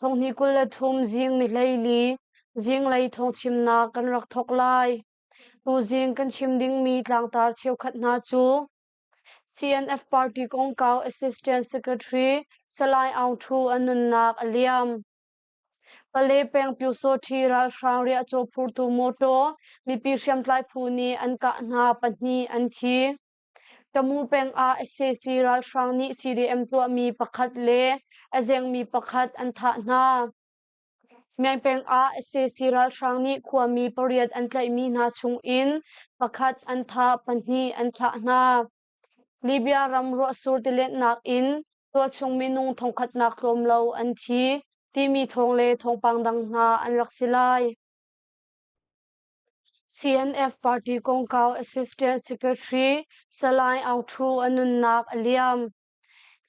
Thonghni kul le thum zing ni hleili, zinglei thawngchimnak kan rak thawk lai. Tuzing kan chim dingmi tlangtar cheukhat hna cu CNF Party kongkau Assistant Secretary Salai Aung Thu an nunnak a liam. Pale peng Pyusawṭhi ralhrang riahcaw phurtu mawṭaw mipi hriamtlai phu nih an kah hna pahnih an thi. Tamu peng ah sac ralhrang nih CDM tuahmi pakhat le a zengmi pakhat an thah hna. Meng peng ah sac ralhrang nih khuami pariat an tlaihmi hna chung in pakhat an thah, pahnih an thlah hna. Libya ram ruahsur tilenhnak in tuahchung minung thongkhatnak tlawm lo an thi timi thawng le thawngpang dang hna an rak si lai. CNF party kongkau assistant secretary Salai Aung Thu a nunnak a liam.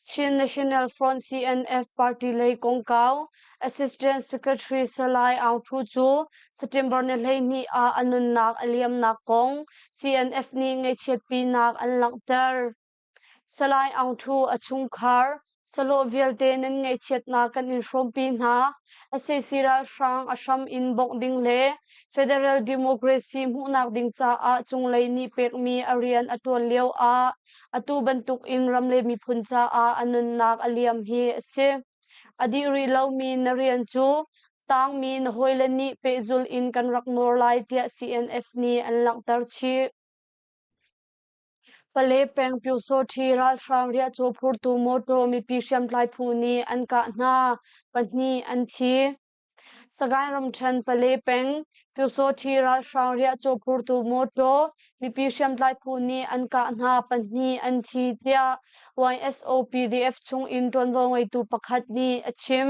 Chin National Front CNF party lei kongkau assistant secretary Salai Aung Thu cu September ni hleihnih ah a nunnak a liamnak kong CNF nih ngaihchiatpinak an langhter. Salai Aung Thu a chungkhar salawh vialte nan ngaihchiatnak kan in hrawmpi hna. SAC ralhrang a hram in bawmh ding le Federal Democracy hmuhnak ding caah cunglei nih pekmi a rian a tuan lio ah atu bantuk in ram le miphun caah a nunnak a liam hi a si. A dih rih lomi na rian cu tangmi na hawile nih pehzul in kan rak nawl lai tiah CNF nih an langhter chih. Pale peng Pyusawṭhi ralhrang riahcaw phurtu mawṭaw mipi hriamtlai phu nih an kah hna, pahnih an thi. Sagaing ramṭhen Pale peng Pyusawṭhi ralhrang riahcaw phurtu mawṭaw mipi hriamtlai phu nih an kah hna, pahnih an thi, tiah YSO PDF chung in ṭuanvo ngeitu pakhat nih a chim.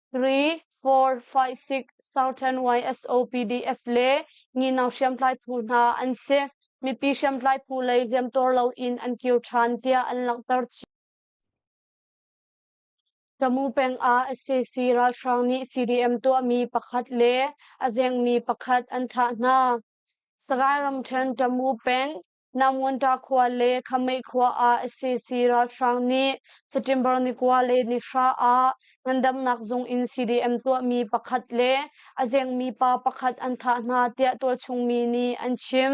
Three, four, five, six Southern YSOPDF le ngino hriamtlai phu hna an si. Mipi hriamtlai phu lei hliamtuar loin an kir ṭhan tiah an langhter chih. Tamu peng ah SAC ralhrang nih CDM tuahmi pakhat le a zengmi pakhat an thah hna. Sagaing ramṭhen Tamu peng Namunṭa khua le Khameih khua ah cc ralhrang nih September ni kua le ni hra ah ngandamnak zung in CDM tuahmi pakhat le a zengmi pa pakhat an thah hna tiah tuahchungmi nih an chim.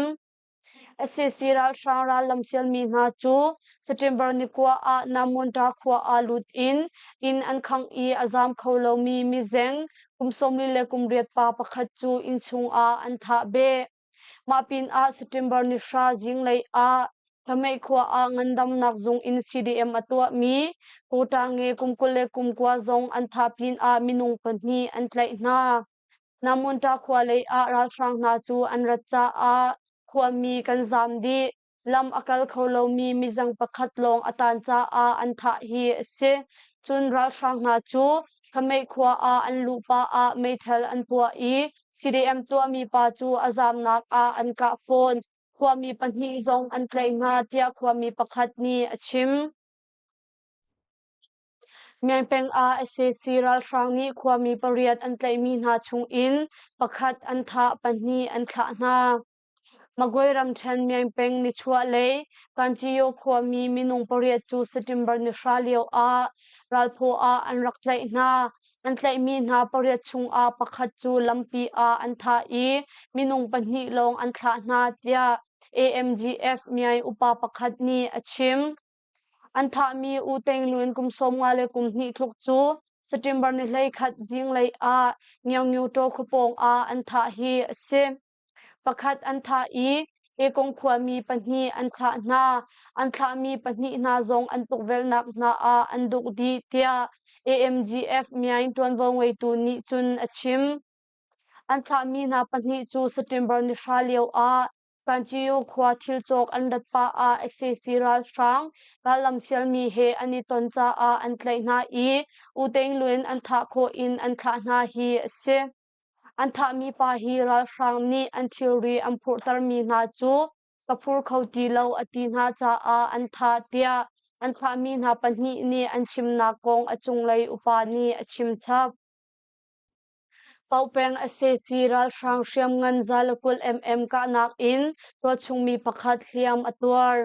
cc ralhrang rallam sialmi hna cu September ni kua ah Namunṭa khua ah lut in inn an khangh i a zaam kho lomi mizeng kum sawm li le kum riat pa pakhat cu inn chungah an thah beh. Mah pinah September ni hra zinglei ah Hlamei khua ah ngandamnak zung in CDM a tuahmi Kotange kum kul le kum kua zong an tha pinah minung pahnih an tlaih hna. Namunta khua lei ah ralhrang hna cu an rat caah khuami kan zaam dih. Lam a kal kho lomi mizang pakhat lawng a tan caah an thah hi a si. Cun ralhrang hna cu Khameih khua ah an luh pah ah meithal an puah i CDM tuahmi pa cu a zaamnak ah an kah fawn. Khuami pahnih zong an tlaih hna tiah khuami pakhat nih a chim. Mengpeng ah SAC ralhrang nih khuami pariat an tlaihmi hna chung in pakhat an thah, pahnih an thlah hna. Magway ramṭhen miangpeng nichuah le Kanchio khuami minung pariat cu September ni hra lioah Ralphaw ah an rak tlaih hna. An tlaihmi hna pariat chungah pakhat cu lampi ah an thah i minung pahnih lawng an thlah hna, tiah AMGF miai upa pakhat nih a chim. An thahmi U Tein Lwin kum sawmnga le kum hnih tluk cu September ni hlei khat zinglei ah Ngyaungyu Taw khuapawng ah an thah hi a si. Pakhat an thah i Mekong khuami pahnih an thlah hna. An thlahmi pahnih hna zong an tukvelhnak hna ah an duk dih, tiah AMGF miang ṭuanvo ngeitu nih cun a chim. An thlahmi hna pahnih cu September ni hra lio ah Kanchio khua thil cawk an rat pah ah sac ralhrang rallamsialmi he an i ton caah an tlaih hna i U Tein Lwin an thah khawh in an thlah hna hi a si. An thahmi pa hi ralhrang nih an thilri an phurhtermi hna cu ka phur kho ti lo a ti hna caah an thah tiah an thahmi hna pahnih nih an chimnak kong a cunglei upa nih a chim chap. Paupeng SAC ralhrang hriamngan zalakulh MM kahnak in tuahchungmi pakhat hliam a tuar.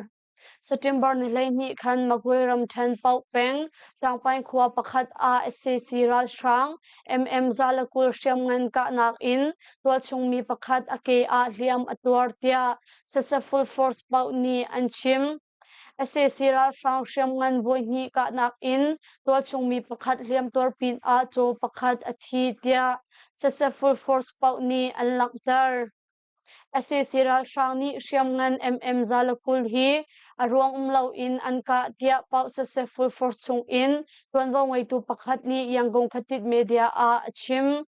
September ni hleihnih khan Magway ramṭhen paoh peng Tlangpai khua pakhat ah SCC ralhrang MM Zalakul hriamngan kahnak in tuahchungmi pakhat a ke ah hliam a tuar tiah Successful Force paoh nih an chim. SCC ralhrang hriamngan voihnih kahnak in tualchungmi pakhat hliamtuar pin ah caw pakhat a thi tiah Successful Force paoh nih an langhter. Sac ralhrang nih hriamngan MM Zalakhul hi a ruang um loin an kah tiah Pauh Successful Force chungin tuanvo ngeitu pakhat nih Yangon Khatit media ah a chim.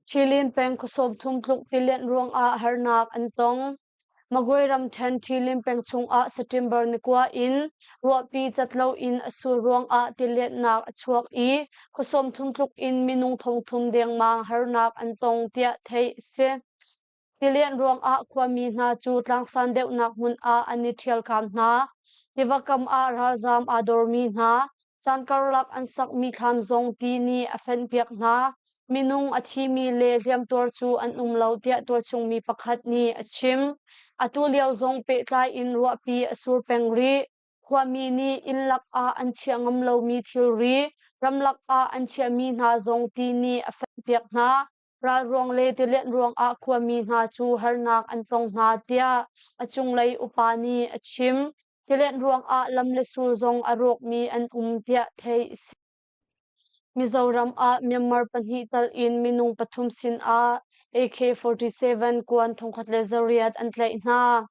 Ṭhilin peng khuasawm thong tluk tilianh ruangah harnak an tong. Magway ramṭhen Ṭhilin peng chungah September ni kua in ruahpi cat loin a sul ruangah tiletnak a chuak i khuasawm chung tluk in minung thongthum dengmang harnak an tong tiah theih a si. Tilen ruangah khuami hna cu tlangsan deuhnak hmun ah an i ṭhialkam hna. Tiva kam ah ralzaam aa dormi hna, Caan karlak an sakmi thlam zong ti nih a fenpiak hna. Minung a thimi le hliamtuar cu an um lo tiah tualchungmi pakhat nih a chim. Atu lio zong pehtlai in ruahpi a sur peng rih. Khuami nih inn lak ah an chiah ngam lomi thilri, ramlak ah an chiahmi hna zong ti nih a fenpiak hna. ral ruang le tilianh ruangah khuami hna cu harnak an tong hna tiah a cunglei upa nih a chim. Tilianh ruangah lam le sul zong a rawkmi an um tiah theih a si. Mizoram ah Myanmar pahnih tal in minung pathum sinah AK-47 kuan thongkhat le zariat an tlaih hna.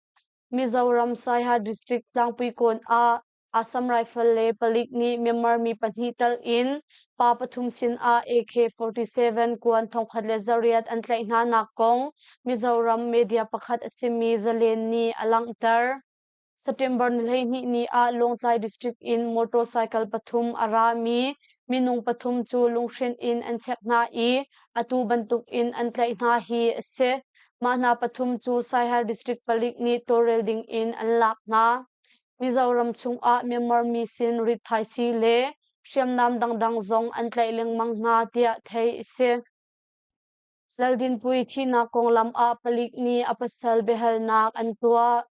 Mizoram Saiha District tlangpui kawn ah Assam Rifle le palik nih Myanmar mi pahnih telh in pa pathum sinah AK-47 kuan thongkhat le zariat an tlaih hnanak kong Mizoram media pakhat a simi zalen nih a langhter. September ni hleihnih ni ah Lawngtlai district in motorcycle pathum a rami minung pathum cu lunghren in an check hna i atu bantuk in an tlaih hna hi a si. Mah hna pathum cu Saihar district palik nih tawlrel ding in an lak hna. Mizoram chungah Myanmar mi sin rit thaisi le hriamnam dangdang zong an tlaih lengmang hna tiah theih a si. Laldinpui thihnak konglam ah palik nih a pasal biahalnak an tuah.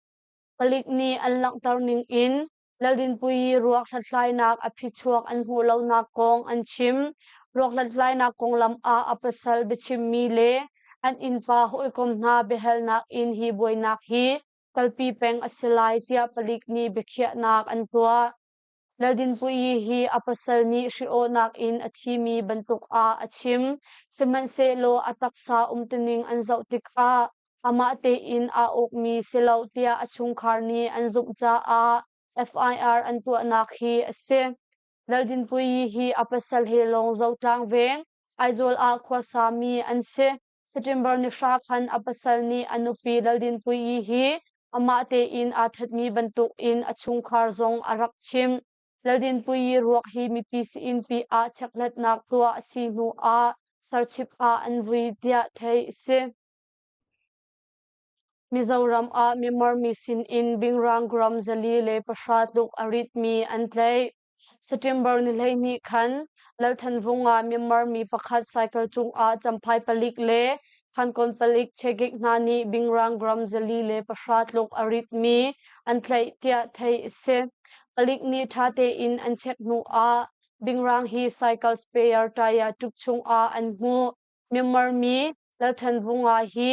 Palik nih an langhter ning in Laldinpui ruak hlathlainak a phichuak an hmuh lonak kong an chim. Ruak hlathlainak konglam ah a pasal biachimmi le an innpa hawikom hna biahalnak in hi buainak hi kalpi peng a si lai tiah palik nih biakhiahnak an tuah. Ladinpuii hi a pasal nih hri-awhnak in a thimi bantuk ah a chim, sihmanhsehlaw a taksa umtuning an zoh tikah amah tein aa ukmi si lo tiah a chungkhar nih an zumh caah FIR an tuahnak hi a si. Ladinpuii hi a pasal he lawng Zotlang veng, Aizawl ah khuasami an si. September ni hra khan a pasal nih a nupi Laldinnpuii hi amah tein aa thatmi bantuk in a chungkhar zong a rak chim. Laldinnpuii ruak hi mipi si-innpi ah chekhlatnak tuah a si hnu ah sarchip ah an vui tiah theih a si. Mizoram ah Myanmar mi sin in Bingrang gram zali le pahra tluk a ritmi an tlaih. September ni hleihnih khan Lalthan Vung ah Myanmar mi pakhat cycle cungah camphai palik le khankon palik chekik hna nih bingrang gram zali le pahra tluk a ritmi an tlaih tiah theih a si. Palik nih ṭha tein an check hnu ah bingrang hi cycle sprayer taya tuk chungah an hmuh. Myanmar mi Lalthan Vung ah hi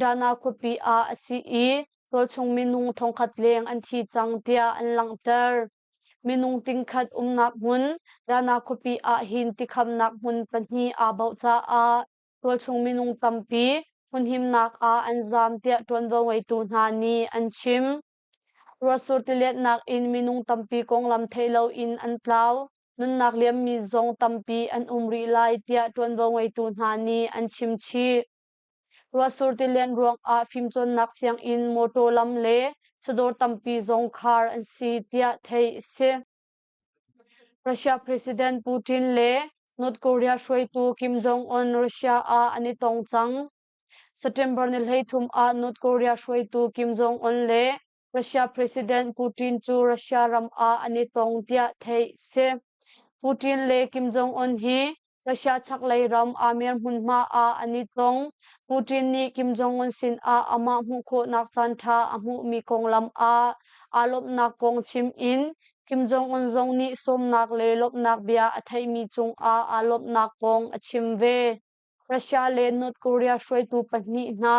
Dana khuapi ah a si i rawlchung minung thongkhat leng an thi cang tiah an langhter. Minung tingkhat umnak hmun Dana khuapi ah hin tikhamnak hmun pahnih aa bauh caah rawlchung minung tampi hmunhimnak ah an zaam tiah ṭuanvo ngeitu hna nih an chim. Ruasur tiletnak in minung tampi konglam thei loin an tlau. Nunnak liammi zong tampi an um rih lai tiah ṭuanvo ngeitu hna nih an chim chih. Ruahsur tilen ruangah fimcawnnak sianginn mawṭaw lam le chawdawr tampi zong khar an si tiah theih a si. Russia President Putin le North Korea hruaitu Kim Jong-un Russia ah an i tong cang. September ni hleithum ah North Korea hruaitu Kim Jong-un le Russia President Putin cu Russia ram ah an i tong tiah theih si. Putin le Kim Jong-un hi Russia chaklei ram Amer hmunhma ah an i tong. Putin nih Kim Jong-un sinah amah hmuh khawhnak caanṭha a hmuhmi konglam ah aa lawmhnak kong chim in Kim Jong-un zong nih sawmnak le lawmhnak bia a theihmi cungah aa lawmhnak kong a chim ve. Russia le North Korea hruaitu pahnih hna